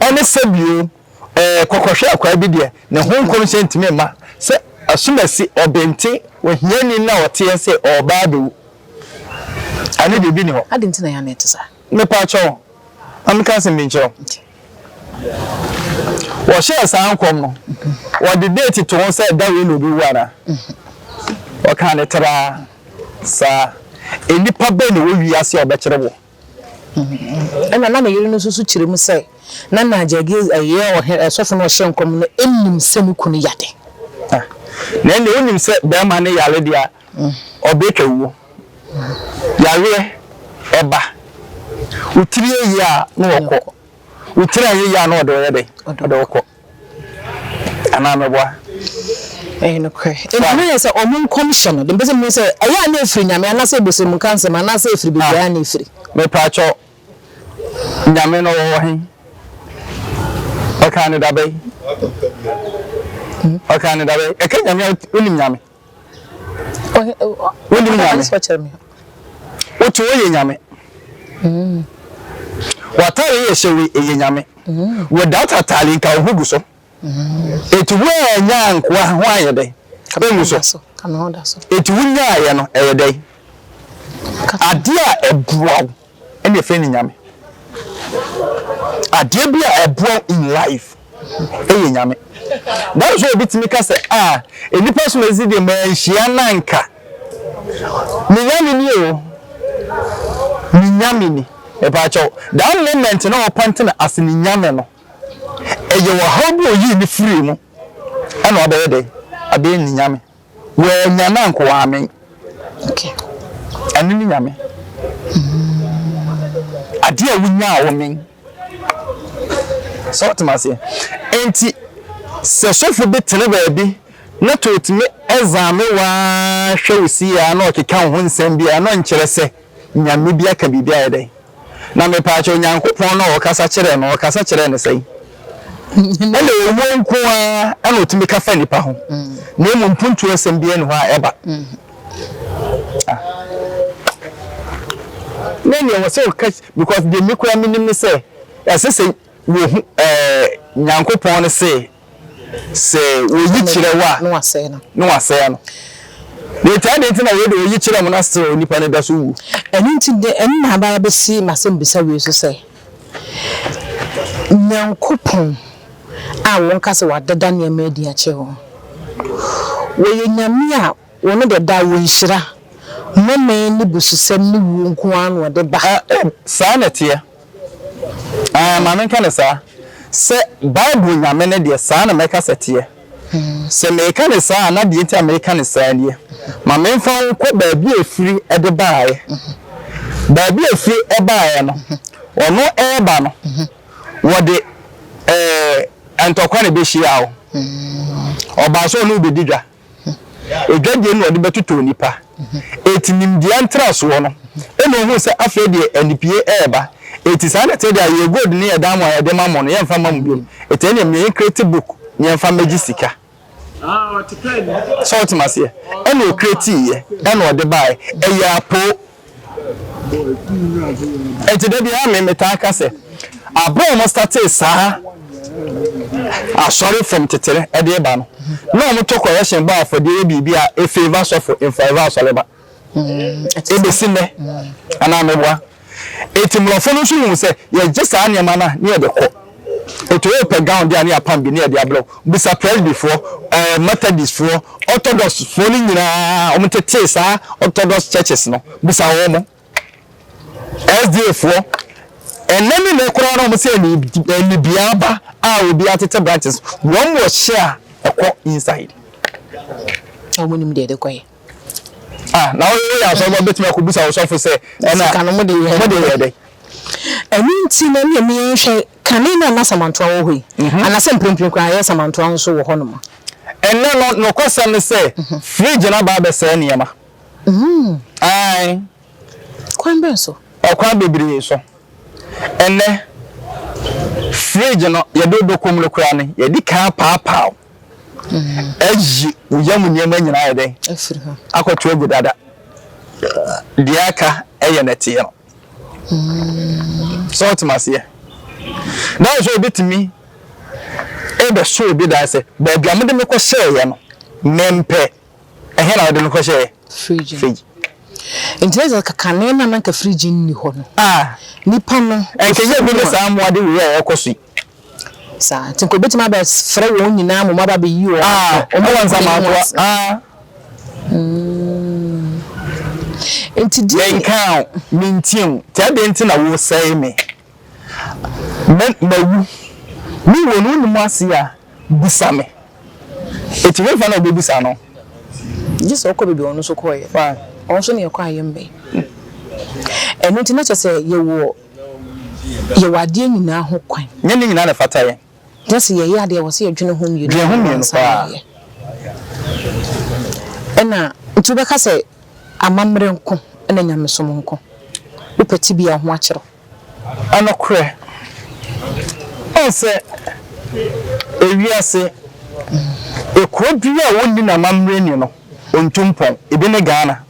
Ɛne sɛ bio, ɛɛ, kɔkɔhwɛ akwaa bi deɛ, ne ho nkɔmhyɛ ntumi mma, sɛ asumasi, ɔbenten, ohiani na ɔteɛ sɛ ɔreba abɛwu. Ɛne deɛ ebi nni hɔ. Adɛn nti na yɛn anan te saa?
Mepakyɛw,
ma menka asɛm bi nkyerɛ wo. Okay. Wɔhyɛɛ saa nkɔm no, wɔde deeti to ho sɛ da wei na obewu anaa? Wɔkaa no traa saa. Nnipa bɛn na ɛwɔ wiase a wɔbɛkyere wo?
Ɛnna na ne yere no nso so kyerɛ mu sɛ, na nea Jegiel yɛ ɔhene ɔsɔfo no a ɔhyɛɛ nkɔm no nnim sɛ ne kunu yɛ ade.
Na ɛnde wonim sɛ barima no yare de a, ɔbɛtwa wuo. Yareɛ, ɛba. Wotiri yɛ yie a, na ɔkɔ. Wotiri anyɛ yie a, na ɔde ɔyɛ dɛn? Ɔde ɔkɔ. Anaa mɛboa? Ɛyɛ
nokorɛ. Enti na ɛyɛ sɛ wɔn nkɔmhyɛ no, deɛ mepɛ sɛ mohu sɛ, ɛyɛ a na ɛfiri Nyame, anaasɛ ɛbosom nka nsɛm, anaasɛ ɛfiri baabi ara na ɛfiri. Mepaatwɔ,
Nyame no ɔwɔ he? Ɔkaa no dabɛn? Ɔkaa no dabɛn? Ɛka Nyame a, wonim Nyame? Wonim Nyame. Wo to wo yɛ Nyame. W'atare yɛ hyɛ wo yɛ Nyame. Wo data atare nka wo ho gu so. Eti wo a nya nkoa ho ayɛ dɛ. Engu so. Eti
wo nyaayɛ no
ɛyɛ dɛ. Adeɛ a ɛboa wo. ɛne ɛfɛ ne nyame adeɛ bi a ɛboa in life ɛyɛ nyame that is why obi tumi ka sɛ ah nnipa so na ɛsi deɛ ma nhyia nanka ne nyame ni o ne nyame ni ɛbaakyɛw that moment na ɔpante na ase ne nyame no ɛyɛ wɔ how bi oyi ne firi mu ɛna ɔbɛyɛ dɛ adeɛ ne nyame Wɔɛ nya na nko waa me.
Ɛno
ne Nyame. Adeɛ a wo nyaa wɔ me. Sɛ ɔtema aseɛ. Enti sɛ sɔfo bi tene baabi na to otumi ɛzame waa hwɛ wo si aa na ɔkeka wo ho nsɛm bi aa na ɔnkyerɛ sɛ Nyame bi aka biribi ayɛ dɛn. Na mepaakyɛw Onyankopɔn no a ɔkasa kyerɛɛ no, ɔkasa kyerɛɛ no sɛn? Ɛnna owuo nko ara na ɔtumi ka fa nnipa ho, na mmom mpuntuo asɛm biara nni hɔ a ɛba. Ne nea ɛwɔ sɛ ɔka because deɛ me koraa menim ne sɛ ɛsɛ sɛ wɔhu ɛɛ Nyankopɔn no se Sɛ woyi kyerɛ wo a, na
wasɛe
no. Na wasɛe no. Na enti adɛn nti na wei de woyi kyerɛ mu na still onipa no da so wu? Ɛno nti de, ɛno
na aba abɛsi m'asɛmbisa wei so sɛ, Nyankopɔn a wɔka sɛ wadeda nneɛma adi akyerɛ wo no, ɔyɛ Nyame a ɔno deɛ daa wɔ nhyira, nnome ne bususɛm ne wuo nko ara na ɔde ba. Ɛ, ɛ, saa na ɛteɛ.
Aah, ma menka no saa, sɛ Bible Nyame no deɛ, saa na mɛka sɛ ɛteɛ. Sɛ meka no saa a, na deɛ nti a meka no saa nie, ma memfa wo nkɔ baabi a ɛfiri de baeɛ. Baabi a ɛfiri baeɛ no, ɔno reba no, wɔde ɛɛ, ntɔkwa na ɛbɛhyia wo. Ɔbaa sɛ ɔne wo bɛdi dwa. Adwadie na ɔde bɛtotɔ onipa. Enti nimdeɛ ntrasoɔ no, ɛna ɔhuu sɛ afei deɛ anipie reba. Enti saa na ɛteɛ deɛ yɛn gold ne yɛn diamond a yɛde ma mo no, yɛmfa mma mo bio. Enti ɛnneɛ me create book na yɛmfa mmɛgye sika. So wote me aseɛ? Ɛna ɔcreatiiɛ, ɛna ɔde baeɛ. Ɛyɛ apoo. Nti da biara me metaa ka sɛ aberɛ a wɔstartee saa asɔre fam tetere ɛde ba no na wɔtɔ correction bɔ afɔdeɛ yɛ biribi a ɛfavour sɔfo ɛnfavour asɔreba ɛbɛsi nnɛ anaa meboa? Nti mmorɔfo no nso huu sɛ yɛgye saa nneɛma no a ne yɛde kɔ. Oto wo pɛ gown de a ne apam bi ne yɛde abrɛ wo. Bisa Presbyfoɔ, ɛɛ Methodistfoɔ, Orthodoxfoɔ no nyinaa wɔn tetee saa Orthodox churches no. Bisa wɔn. SDAfoɔ, ɛnɛ ne nɛ koraa na wɔn sɛ anibea aba a obi atete branches. Wɔn wɔ hyɛ a ɛkɔ inside.
Wɔn nim deɛ ɛde kɔɛ. Ah,
na wo yɛ asɔre ma betumi akɔbisa wo sɔfo sɛ ɛna sika no mo de yɛ mode yɛ
dɛ.
Ɛno nti
na ne ɛmi nhwɛ kane no a na samantoa wɔ hɔ yi, anasɛ mprempren koraa yɛ samantoa nso wɔ hɔnom. Ɛnnɛ no,
nokwasɛm ne sɛ, fridge no aba abɛsɛe nneɛma. Aane.
Kwan bɛn so? Ɔkwan bebree
so. Ɛnnɛ, fridge no, yɛde wobɛkɔ mu no koraa no, yɛde kan apaapaw. Ayi wo yam nneɛma nyinaa ayɛ dɛn? Afiri hɔ. Akɔto
agu dada.
Deɛ aka yɛ nɛteɛ no. Sɛ wotem aseɛ. Dɛn sɛ obɛtumi ɛbɛso obi dan sɛ baabi a mode me kɔhyɛeɛ no mempɛ. Ɛhe na wode no kɔhyɛeɛ? Fridge.
Fridge. Nti na sɛ kakane na nanka fridge nni hɔ no. Ah. Nipa no. Ɛnkɛyɛ bi ne saa
mmoade wei a ɛkɔ so yi. Saa
nti, nka obetumi abɛfrɛ wɔn nyinaa mmom aba abɛyi wɔn ah, afiri wɔn nsa mu
akoa. Ah. Mm.
Nti di. Menka o,
mentie o, nti ɛdeɛ nti na wosɛe me. Me mawu. Me wɔ no wonim ase a bisa me. Eti hefa na obebisa no? Gye sɛ
ɔkɔ baabi a ɔno nso kɔeɛ. Ɔno nso ne yɛkɔ ayɛ mmɛn. Ɛno nti na kyerɛ sɛ yɛwɔ Yɛwɔ adeɛ nyinaa ho kwan. Nyɛ ne nyinaa na ɛfata
yɛn. Na sɛ yɛyɛ adeɛ
a, ɛwɔ sɛ yɛdwene ho mmienu paa ansa na
yɛayɛ.
Ɛna nti wobɛka sɛ amammerɛ nko na nyamesom nko? Wopɛ tebea a, ho akyerɛ wo. Ɛnokorɛ.
Woahu sɛ ewiase kuro biara a wɔnni no amammerɛ nni no, ɔntu mpɔn. Ebi ne Ghana.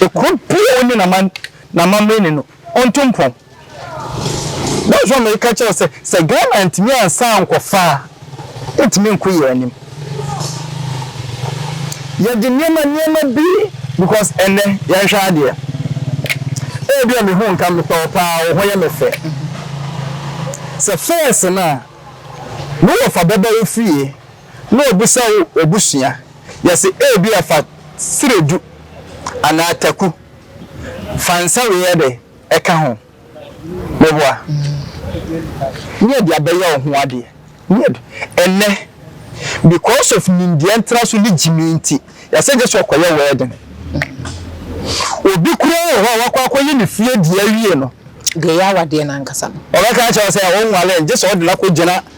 Ekuro biaa ɔnni naman namammerɛ ni no ɔntu mpɔn that is why me ka kyerɛw sɛ sɛ Ghana antumi ansan ankɔ faa ɛntumi nko yɛn anim yɛde nneɛma nneɛma bi because ɛnɛ yɛn hwɛ adeɛ ɛbi a me hu nka me tɔɔ paa wɔ ho yɛ me fɛ sɛ fɛs no a me wɔ fa bɛbɛ wo fie. na obisa wo w'abusua, yɛse ebia fa seredu anaa taku, fa nsa wei yɛ dɛ ɛka ho, meboa? Ne yɛde abɛyɛ wo ho adeɛ, ne yɛde, ɛnnɛ because of nimdeɛ ntraso ne gyimii nti, yɛse gyesɛ ɔkɔyɛ wedding. Obi koraa wɔ hɔ a wakɔ akɔyɛ ne fie deɛ awie no, Deɛ ɛyɛ awadeɛ no
ankasa no. ɔbɛka akyerɛ wo sɛ ɔnware
gyesɛ ɔde no akɔgyina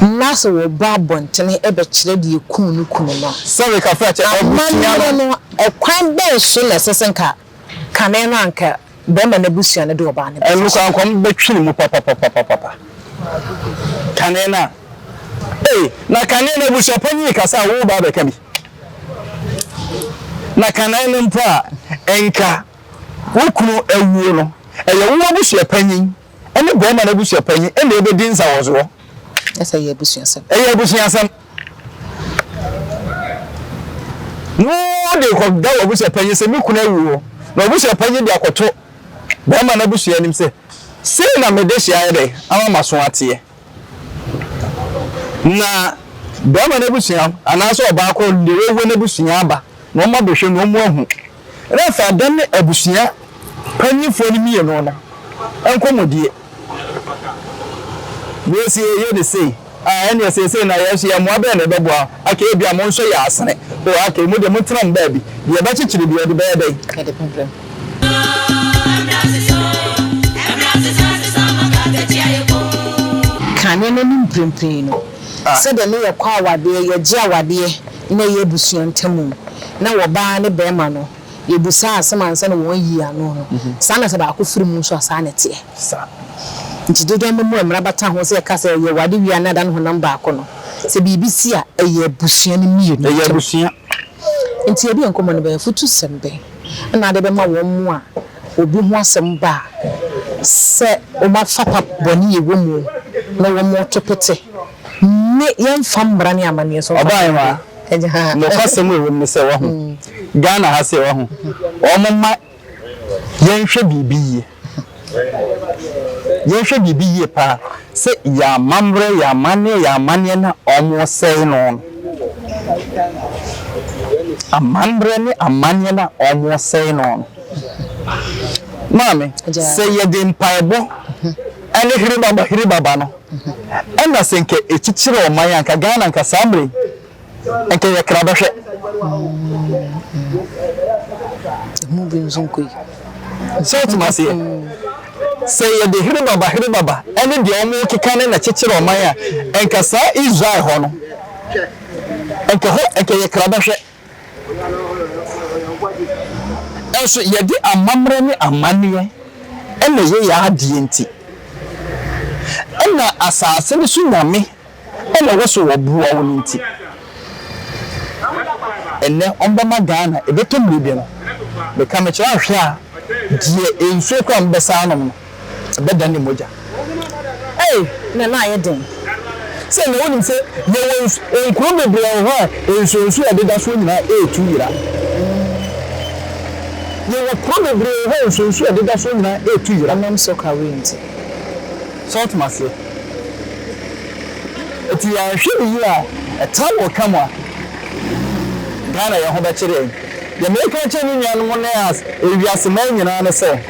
Na sɛ wɔba abɔnten bɛkyerɛ deɛ ɛkum ne kunu no
amammerɛ
no, ɛkwan bɛn
so
na ɛsɛ sɛ anka kane no
anka
barima no abusua no de ɔbaa no bɛfa so? Anka wɔbɛtwe ne
mu papapapapa, kane no a. Ei, na kane no abusuapɔn yi kasa a woreba abɛka bi. Na kane no mpo a, anka wo kunu awuo no, ɛyɛ wo abusuapanyin Ɛne barima no abusua panyin na ebedi nsawɔsoɔ. Ɛsɛ sɛ ɛyɛ
abusuasɛm. Ɛyɛ abusuasɛm.
Na wode kɔda w'abusua panyin sɛ me kunu awu o, na w'abusua panyin de akɔto barima no abusua anim sɛ sei na me dehye ayɛ dɛn ama m'aso ateɛ. Na barima no abusua anaasɛ ɔbaa korɔ de w'awuo no abusua aba na wɔn abɛhwɛ no wɔn ahu. Refa dɛn ne abusua mpanyimfo no mmienu no nkɔmmɔdie? Deɛ sɛ yɛyɛ no sei a, ɛnneɛ seesei na yɛn nso yɛn mmoa bɛn na ɛbɛboa? Okay, ebia mo nso yɛ asene. Oh, okay, mo deɛ montena mo baabi. Deɛ ɛbɛkyekyere deɛ, ɔde bɛyɛ dɛn? Kane no ne
mprempren no. Sɛdeɛ ne yɛkɔ awadeɛ, yɛgye awadeɛ. na ɛyɛ abusua ntamu, na wɔ baa ne bɛɛma no yɛ busaa asɛm ansa na wɔn ayi ano no, saa na sɛ baako firi mu nso a saa na ɛteɛ. Sa.
Nti dodoɔ
no mu a mmara bata ho sɛ ɛka sɛ yɛ wade wie a na ɛda no honam baako no, sɛ biribi si a ɛyɛ abusua no mmienu ntam. Ɛyɛ abusua.
Nti yɛde
yɛn nkɔmmɔ no bɛyɛ afotu sɛm bɛn na ade bɛma wɔn mo a obi ho asɛm ba a sɛ wɔn afapa bɔne yɛ wɔ mu na wɔn to pete. Mme yɛmfa mmara ne amanneɛ so mfa Ɔbaa nwaa Agya
ha a. Nokwasɛm a ɛwɔ mu ne sɛ, wahu, Ghana ha sɛ, wahu, wɔmma yɛnhwɛ biribi yie. Yɛnhwɛ biribi yie pa ara sɛ yɛn amammerɛ, yɛn amanneɛ, yɛn amanneɛ no a wɔresɛe no no. Amammerɛ ne amanneɛ no a wɔresɛe no no. Maame, sɛ yɛde mpaebɔ ne hwere baba hwere baba no, Ɛna sɛ nka ɛkyikyiri ɔman a nka Ghana nka saa mmerɛ yi nka ɛyɛ krabɛhwɛ.
Ɛho bi nso nkɔ yi. So wotim
aseɛ? Sɛ yɛde herebaba herebaba ɛne deɛ wɔn keka ne na kyikyiri ɔman a nka saa Israel hɔ no nka hɔ nka ɛyɛ krabɛhwɛ. Nanso yɛde amammerɛ ne amanneɛ na ɛyɛ yɛn adeɛ nti, ɛna asase no so nyame na ɛwɔ so wɔ boɔ wo no nti, ɛnnɛ wɔbɛma Ghana, ɛbɛtɔ mmerɛ bi no, meka mekyerɛ ahwɛ a, deɛ nsuo koraa a mobɛsan anom no, ɛbɛdan ne mogya. Ei,
na na ayɛ den! Sɛ na
wonim sɛ yɛwɔ nsu, nkuro bebree wɔ hɔ a nsuonsuo a ɛdeda soɔ nyinaa retu yera. Yɛwɔ kuro bebree wɔ hɔ a nsuonsuo a ɛdeda soɔ nyinaa retu yera. Ɛnam sock away nti.
So
wote me aseɛ? Enti yɛanhwɛ no yie a, ɛtaa wɔ twa mu a, Ghana yɛn ho bɛkyere yɛn. Deɛ mereka akyerɛ me nuanom ne ewiase man nyinaa ne sɛ,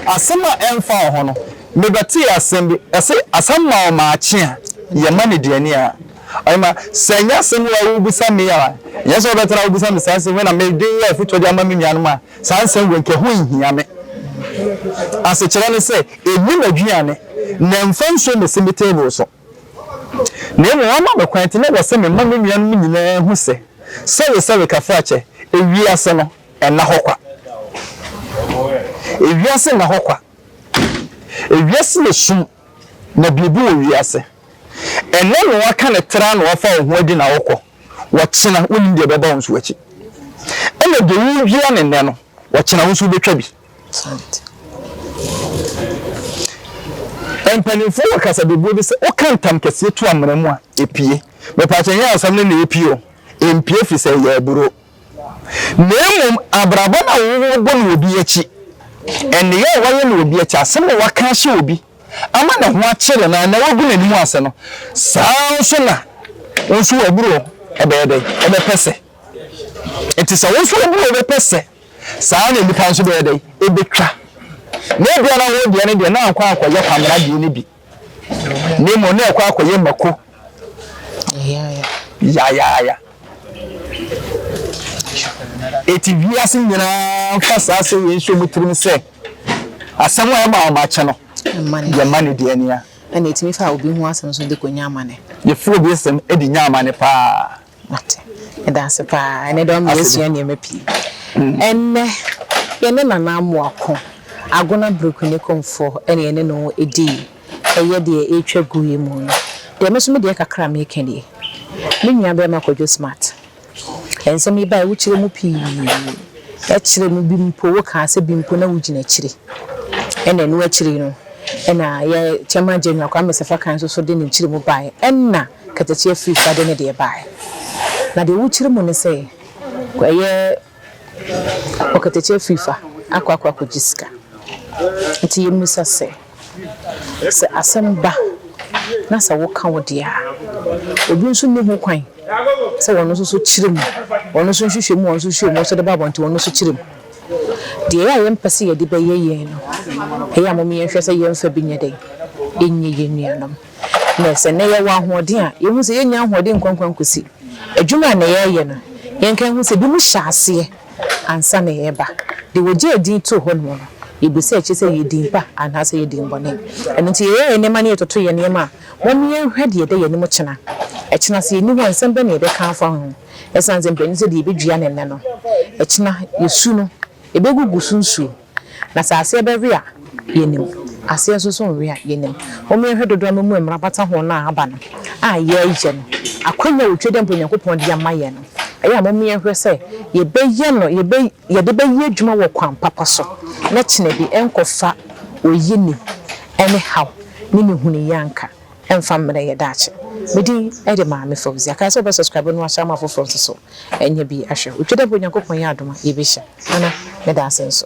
Asɛm a ɛmfa wo ho no, mebɛtee asɛm bi, ɛse asɛm ma wo maakye a, yɛ ma no duani a. Ɔhema, sɛ ɛnyɛ asɛm yi a wobisa me a, ɛnyɛ sɛ wobɛtra wobisa me saa nsɛm yi na mede yɛ afotuo de ama me nuanom a, saa nsɛm wei nka ɛho nhia me. Asekyerɛ ne sɛ, ɛnni m'aduane, na ɛmfa nsuo mmɛsi me table so. Na mmom wɔama me kwan nti na ɛwɔ sɛ mema me nuanom nyinaa hu sɛ, sɔre sɛ rekafra kyɛ, ewiase no, Ɛnna hɔ kwa. Ewiase nna hɔ kwa. Ewiase yɛ sum, na biribi wɔ wiase. Ɛnnɛ na wɔaka no tra na wɔafa wo ho adi na wokɔ. Ɔkyena, wonnim deɛ ɛbɛba wo nso akyi. Ɛnna deɛ wodua no nnɛ no, ɔkyena wo nso wobɛtwa bi. Mpanimfoɔ wɔ kasabebuo bi sɛ, woka ntam kɛseɛ tu amena mu a, ɛpue. Mepaakyɛ, ɛnyɛ asɛm no na ɛpue o. Ɛmpue firi sɛ ɛyɛ aburoo. Na mmom abrabɔ no a wɔbɔ no obi akyi, nneyɛe a wɔayɛ no obi akyi, asɛm a wɔaka ahyɛ obi ama ne ho akyere no anaa wagu n'anim ase no, saa ara nso na wo nso w'aburow bɛyɛ dɛn? Ɛbɛpɛ sɛ. Enti sɛ wo nso w'aburow bɛpɛ sɛ, saa ara na nnipa nso bɛyɛ dɛn? Ebetwa. Na ebia na wo deɛ no deɛ na ankɔ ankɔyɛ Kwamina deɛ no bi. na mmom na ɛkɔ akɔyɛ mako yayaaya. Eti wiase nyinaa fa saa asɛm wei nso mu tirim sɛ asɛm a ɛma wɔn akyɛ no yɛ mma ne deɛ nia. Ɛna etumi fa obi
ho asɛm nso de kɔ nya amane. Yɛfiri obi nsɛm
de nya amane paa. Mate.
Meda ase paa. Ɛnɛ deɛ ɔma yɛsua nneɛma pii. Ɛnnɛ, yɛne Nana Amoako, Agona Brikuni Komfo na yɛne no di ɛyɛ deɛ ɛretwa gu yi mu no. Deɛ me nso me deɛ kakra a mereka nie. Me nuabarima Kwadwo Smart, nsɛm yi baeɛ wokyerɛ mu pii. Ɛkyerɛ mu bi mpo, wokaa sɛ bi mpo na wogyina akyire. Ɛna ɛno akyiri no, ɛna yɛ Chairman General Kwame Sefa Kae nso so de ne nkyerɛmu baeɛ. Ɛna Katakyiɛ firi fa de ne deɛ baɛ. Na deɛ wokyiri mu ne sɛ ɛyɛ ɔkatakyiɛ firi fa akɔ akɔ akɔgye sika. Nti yɛmmisa sɛ, sɛ asɛm ba na sɛ woka wo deɛ a, obi nso nni ho kwan sɛ ɔno nso so kyiri mu, ɔno nso nhwehwɛ mu, ɔno nso hwɛ mu, ɔno nso de ba abɔnten, ɔno nso kyiri mu. Deɛ ɛyɛ a yɛmpɛ sɛ yɛde bɛyɛ yɛn no, ɛyɛ a mom yɛnhwɛ sɛ yɛmfa bi nyɛ dɛn? Nyɛ yɛn nuanom. Nnɛ, sɛ nnɛ yɛwɔ ahoɔden a, yehu sɛ yennya ahoɔden nkoankwan kosi adwuma a nnɛ yɛreyɛ no. Yɛnka nhu sɛ ebinom hyɛ aseɛ ansa na yɛreba. Deɛ wɔgyee din too hɔnom no, yɛbisa akyire sɛ ɛyɛ din pa anaasɛ ɛyɛ din bɔne. Ɛno nti, yɛyɛ yɛn nneɛma na yɛtoto yɛn nneɛma a, momma yɛnhwɛ deɛ ɛda yɛn anim kyena. Ɛkyena, sɛ yɛnni hɔ a, nsɛm bɛn na yɛbɛka afa ho? Ɛsiane sɛ mprenu sɛdeɛ yɛbɛdua no nnɛ no, ɛkyena yɛn su no, ɛbɛgugu so nsuo. Na sɛ aseɛ bɛwe a, yɛnim, aseɛ nso so nwe a, yɛnim. Mommɛhwɛ dodoɔ a mo mu mmara bata ho no a aba no, a yɛreyɛ no, akwanya a otwa di a mpo Onyankopɔn de ama yɛn no. Ɛyɛ a mommɛhwɛ sɛ yɛbɛyɛ no, yɛbɛ, yɛde bɛyɛ adwuma wɔ kwan papa so, na kyena bi ɛnkɔfa oyi ne ɛne haw ne ne hunu yi anka. Ɛmfa mmerɛ yɛ daakye. Me din de Maame Fauzia. Kae sɛ wobɛ subscribe na wahyɛ ama afoforɔ nso so anya bi ahwɛ. Otwa dɛ bɛ Onyankopɔn yɛ adom a yɛbɛhyia. Nana, meda ase nso.